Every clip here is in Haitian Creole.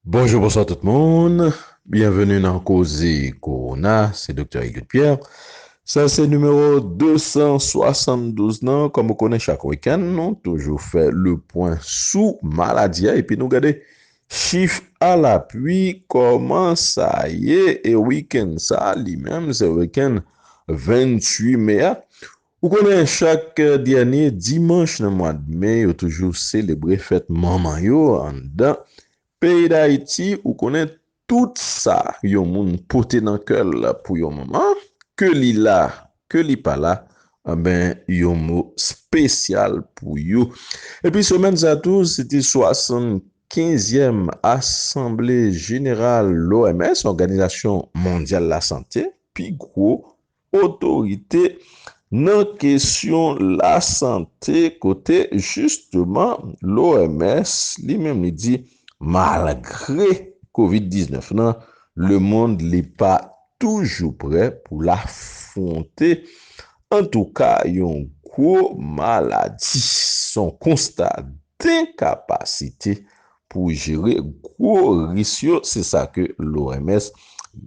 Bonjou bonswa tout moun, byenveni nan koze kowona, se Doktè Egid Pierre. Sa se nimewo 272 nan, kòm ou konnen chak wikenn nou toujou fè le pwen sou maladi a epi nou gade chif a lapwi kòman sa ye e wikenn sa li menm se wikenn 28 me a. Ou konnen chak dènye dimanch nan mwad me yo toujou selebre fèt manman yo anndan peyi dayiti ou konnen tout sa yon moun pote nan kèl pou yon manman ke li la ke li pala anben yon mo spesyal pou yo epi semèn sa tou se te 75 yèm asanble jeneral loms òganizasyon mondyal lasante pi gwo otorite nan kesyon lasante kote jisteman l'OMS li menm li di malgre kovid 19 lan lemond li pa toujou prè pou l afwonte antouka yon gwo maladi son konsta denkapasite pou jere gwo ris yo, se sa ke l'OMS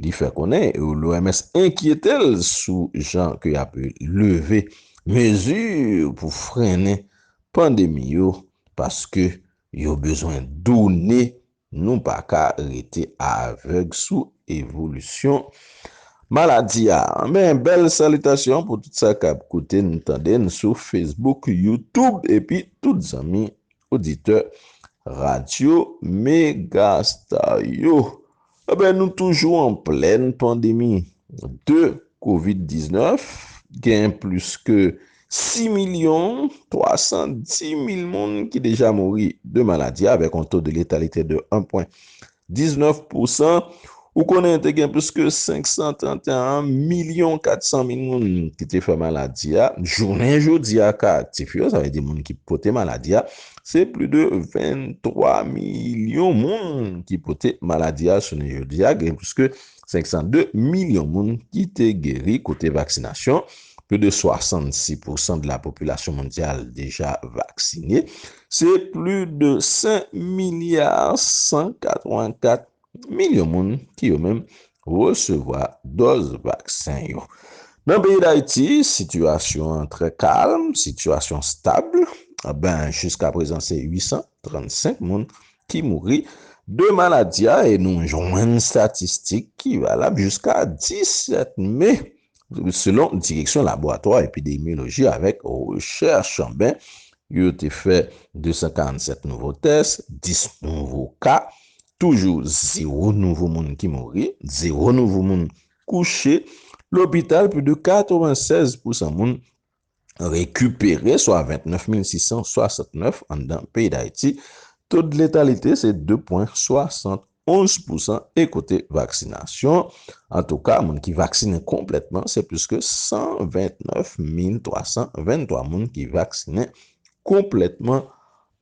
li fè konnen. L'OMS enkyete l sou jan ke y'ap leve mezi pou frennen pandemi yo paske yo bezwen done, nou pa ka rete avèg sou evolisyon maladi a. Men bèl salitasyon pou tout sa k'ap koute n, tande n sou Facebook, YouTube epi tout zanmi Oditè Radyo Megastar yo, Enben nou toujou an plèn pandemi de Kovid 19, gen plis ke 6 milyon 310 mil moun ki deja mouri de maladi a avèk yon to de letalitè de 1 pwen 19 pousan Ou konnen te gen plis ke 531 milyon 400 mil moun ki te fè maladi a. Jounen jodi a, ka aktif yo, sa vle di moun ki pote maladi a, se plis de 23 milyon moun ki pote maladi a jounen jodi a. Gen plis ke 1 502 milyon moun ki te geri kote vaksinasyon, pli de 66 pousan de la popilasyon mondyal deja vaksine, se pli de 5 milya 184 milyon moun ki yo menm resevwa dòz vaksen yo. Nan peyi Dayiti, sitiyasyon an trè kalm, sitiyasyon stab, ben jiska prezan se 835 moun ki mouri de maladi a e nou jwenn statistik ki valab jiska 17 me, selon Direksyon Laboratwa Epidemyoloji avèk Rechèch, ben, yo te fè 247 nouvo tès, 10 nouvo ka, toujou zewo nouvo moun ki mouri, zewo nouvo moun kouche lopital, pi de 96 pousan moun rekipere swa 29669 anndan peyi Dayiti, to de letalite se 2 pwen 71 pousan e kote vaksinasyon antouka moun ki vaksinen konplètman se plis ke 129323 moun ki vaksinen konplètman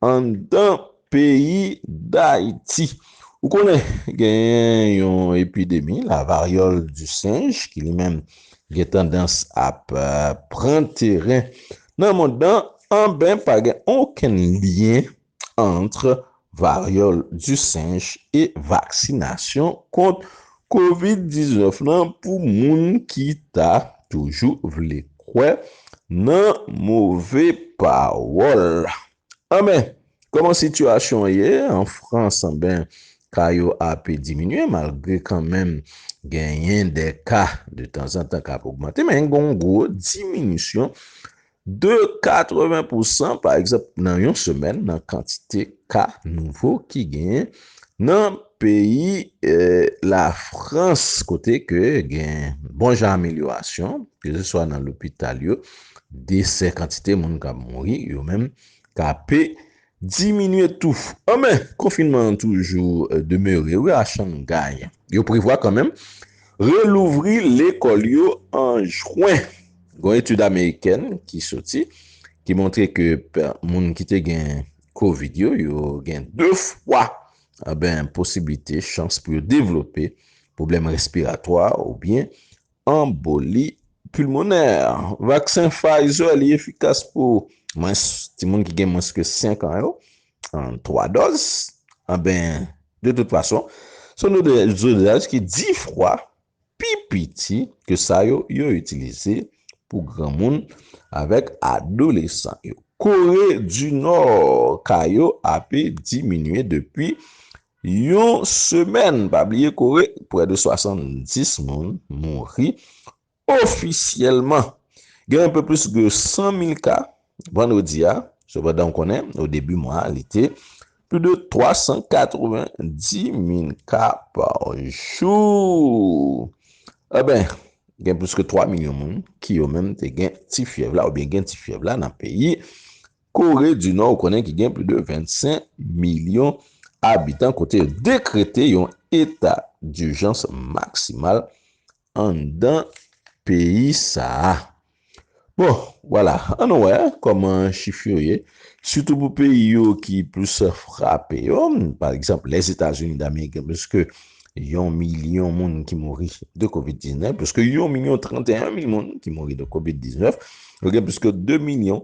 Anndan peyi Dayiti. Ou konnen genyen yon epidemi la varyòl di senj ki li menm gen tandans ap pran teren nan mond lan anben pa gen okenn lyen antr varyòl di senj e vaksinasyon kont Covid 19 lan pou moun ki ta toujou vle kwè nan move pawòl. Anben, kòman sitiyasyon an ye an Frans? Anben, ka yo ape diminye malgre kanmenm genyen de ka de tanzantan k ap ogmante men gen yon gwo diminisyon De 80 pousan, pa egzanp, nan yon semèn nan kantite ka nouvo ki genyen nan peyi Lafrans kote ke gen bon jan amelyorasyon, ke se swa nan lopital yo, desè, kantite moun k ap mouri yo menm, k ape Diminye tou. Anmè, konfinman an toujou demere wi a Shanghai. Yo prevwa kanmenm relouvri lekòl yo an jwen. Gon etid amerikèn ki soti ki montre ke moun ki te gen covid yo, yo gen 2 fwa anben posiblite, chans pou yo devlope pwoblèm respiratwa oubyen Anboli pulmonè. Vaksen Pfizer li efikas pou mwens timoun ki gen mwens ke 5 an yo, an 3 dòz. Anben, de tout fason, se yon dozaj ki 10 fwa pi piti ke sa yo yo itilize pou granmoun avèk adolesan yo. Kore di Nò ka yo ape diminye depi Yon semèn, pa bliye kore, prè de 70 moun mouri ofisyèlman. Gen anpe plis ke 100 mil ka vandredi a, sepandan ou konnen o debi mwa a li te pli de 390 mil ka pa jou. Enben, gen plis ke 3 milyon moun ki yo menm te gen ti fyèv la oubyen gen ti fyèv la nan peyi Kore di Nò ou konnen ki gen pli de 25 milyon abitan kote yo dekrete yon eta dijans maksimal anndan peyi sa a. Bon, wala, an nou wè kòman chif yo ye, sitou pou peyi yo ki plis frape yo, pa egzanp Lèzetazini Damerik gen plis ke yon milyon moun ki mouri de Kovid 19, plis ke yon milyon 31 mil moun ki mouri de Kovid 19, yo gen plis ke 2 milyon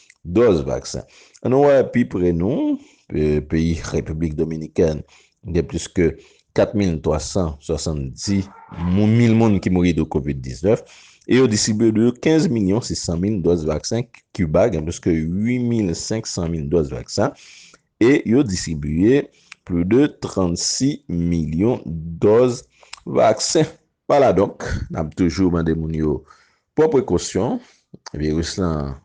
dòz vaksen. An nou wè pi pre nou, peyi Repiblik Dominikèn, gen plis ke 4,370 mil moun ki mouri de Covid 19, e yo distribye de 15 milyon 600 mil dòz vaksen, Kiba gen plis ke 8 mil 500 mil dòz vaksen, e yo distribye plis de 36 milyon dòz vaksen. Pa la donk, n ap toujou mande moun yo pran prekosyon. Viris lan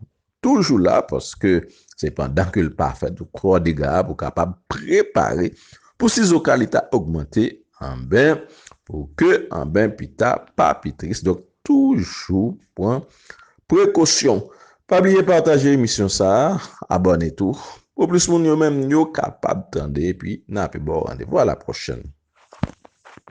toujou la paske se pandan ke l pa fè twò dega pou kapab prepare pou sizoka li ta ogmante anben pou ke anben pi ta pa pi tris. Donk toujou pran prekosyon. Pa bliye pataje emisyon sa a, abòne tou pou plis moun yo menm yo kapab tande epi n ape ba w randevou a la pwochèn.